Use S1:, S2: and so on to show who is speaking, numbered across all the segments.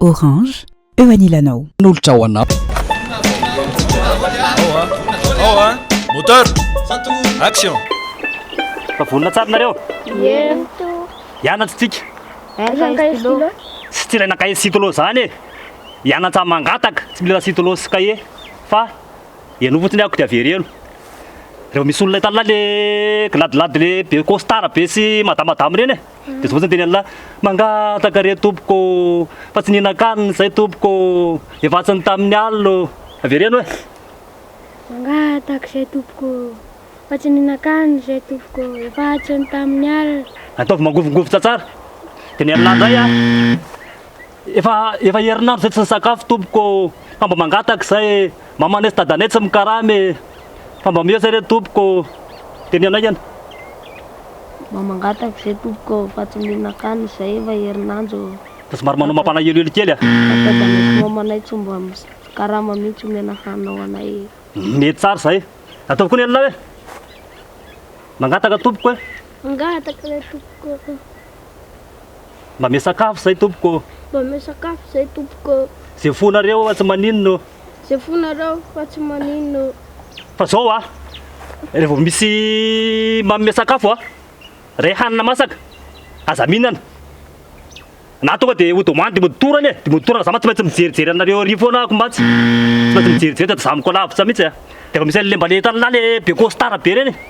S1: Orange, eo anilanao. Nolotra ho anao.
S2: Ao a, moteur, action!
S3: Efa vonona tsara nareo? Ie. Hianatra tsika. Tsy tsy ilaina cahier sy stylo zany e! Hianatra mangataka, tsy mila stylo sy cahier fa henoy fotsiny ako dia avereno. Reo misy olona hitanao le gladilady le be costard be sy madamadama reny e! Dia zao fotsiny teny Allah, mangataka re tompoko fa tsy nihinan-kanina izahay tompoko, efa atsiny tamin'ny alina ô. Avereno e!
S4: Mangataka izahay tompoko fa tsy nihinan-kanina izahay tompoko, efa atsiny tamin'ny alina. Ataovy mangovingovy
S3: tsatsara. Teny Allah indray an! Efa efa herinandro zay tsy nisakafo tompoko ô, fa mba mangataka zay e, mamanay sy dadanay tsy mikarama e, fa mba mihoatra re tompoko ô, de ny anay anie.
S4: Mba mangataka zay tompoko ô, fa tsy mihinan-kanina zay efa herinandro ô. Fa somary manao
S3: mampalahelo hely kely a. Fa dadanay sy mamanay
S4: tsy mba mikarama mintsy omena hanina ho anay e. Mety tsara zay,
S3: ataovy koa ny anay hoe, mangataka tompoko hoe. Mangataka re
S4: tompoko ô.
S3: Mba ame sakafo zay tompoko ô. Mba ame sakafo
S4: zay tompoko ô. Ze fo nareo fa
S3: tsy maninona ô. Ze fo
S4: nareo fa tsy maninona ô. Fa
S3: zao a, re vao misy manome sakafo a, re hanina masaka, aza mihinana. Na tonga de ho demande de mody tour anie, de mody tour ana za mantsy tsy maintsy mijerijery anareo ary foana ako mantsy. Tsy maintsy mijerijery sady zahako lavitra mintsy a. De efa misy anle mbale hitanla le be costard be reny.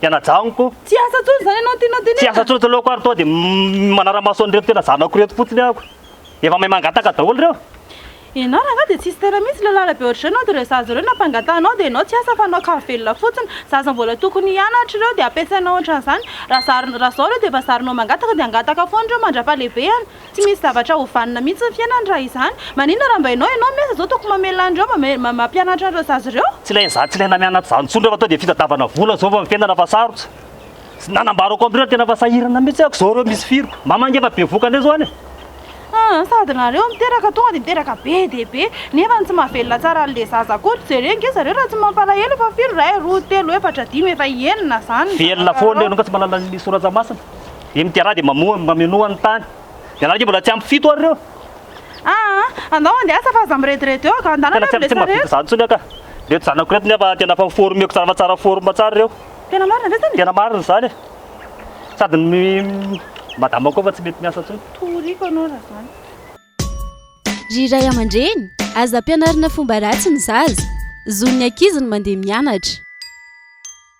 S3: tena janoko. Tsy asa intsony izany ianao
S5: tianao tenenina? Tsy asa intsony eto aloha ko ary toa
S3: dia manara-maso an'ireto tena zanako ireto fotsiny aho ko. Efa mahay mangataka daholo ireo. Ianao rangahy
S5: dia tsisy tena mihitsy ilay lalabe ohatr'izao ianao dia ireo zaza ireo nampangatahanao dia ianao tsy asa fa hanao kary velona fotsiny. Zaza mbola tokony hianatra ireo dia ampiasainao ohatran'izany. Raha zary, raha izao ireo dia efa zarinao mangataka dia hangataka foana ireo mandra-pahalevehana. Tsy misy zavatra ho vanona mihitsy ny fiainany raha izany. Maninona raha mba ianao ianao me zao toko mamela an'ireo mampianatra an'ireo zaza ireo? Tsy ilaina izany tsy ilaina mianatra
S3: izany intsony rehefa tonga dia fitadiavana vola zao vao ny fiainana fa sarotra. Tsy nanambarako amin'ireo tena fa sahirana mihitsy ako zao ireo misy firy. Mama nge efa be voka ndray zao any e. Aa sady
S5: nareo miteraka tonga dia miteraka be dia be nefa ny tsy mahavelona tsara an'le zaza akory tsy jereo nge zareo raha tsy mampalahelo fa firy iray roa telo efatra dimy efa enina zany ny zavatra atao. Velona foana ianao ka tsy
S3: mahalala ny soratsa masina. Dia ny Diarra dia mamoha ny mamenoa ny tany. Dia anareo mbola tsy ampy fito ary ireo. Aa!
S5: Andao handeha asa fa aza mirediredy eo ka, andana aloha ilay sarety. Tena tsy mahavita izany intsony aho
S3: ka. Ireto zanako ireto nefa tena efa former-ko tsara fa tsara forme tsara ireo. Tena
S5: marina ve izany e?
S3: Tena marina izany e. Sady ny madama koa efa tsy mety miasa intsony. Toriako anao raha
S6: izany. Ry ray aman-dreny, aza ampianarina fomba ratsy ny zaza. Zon'ny ankizy ny mandeha
S2: mianatra.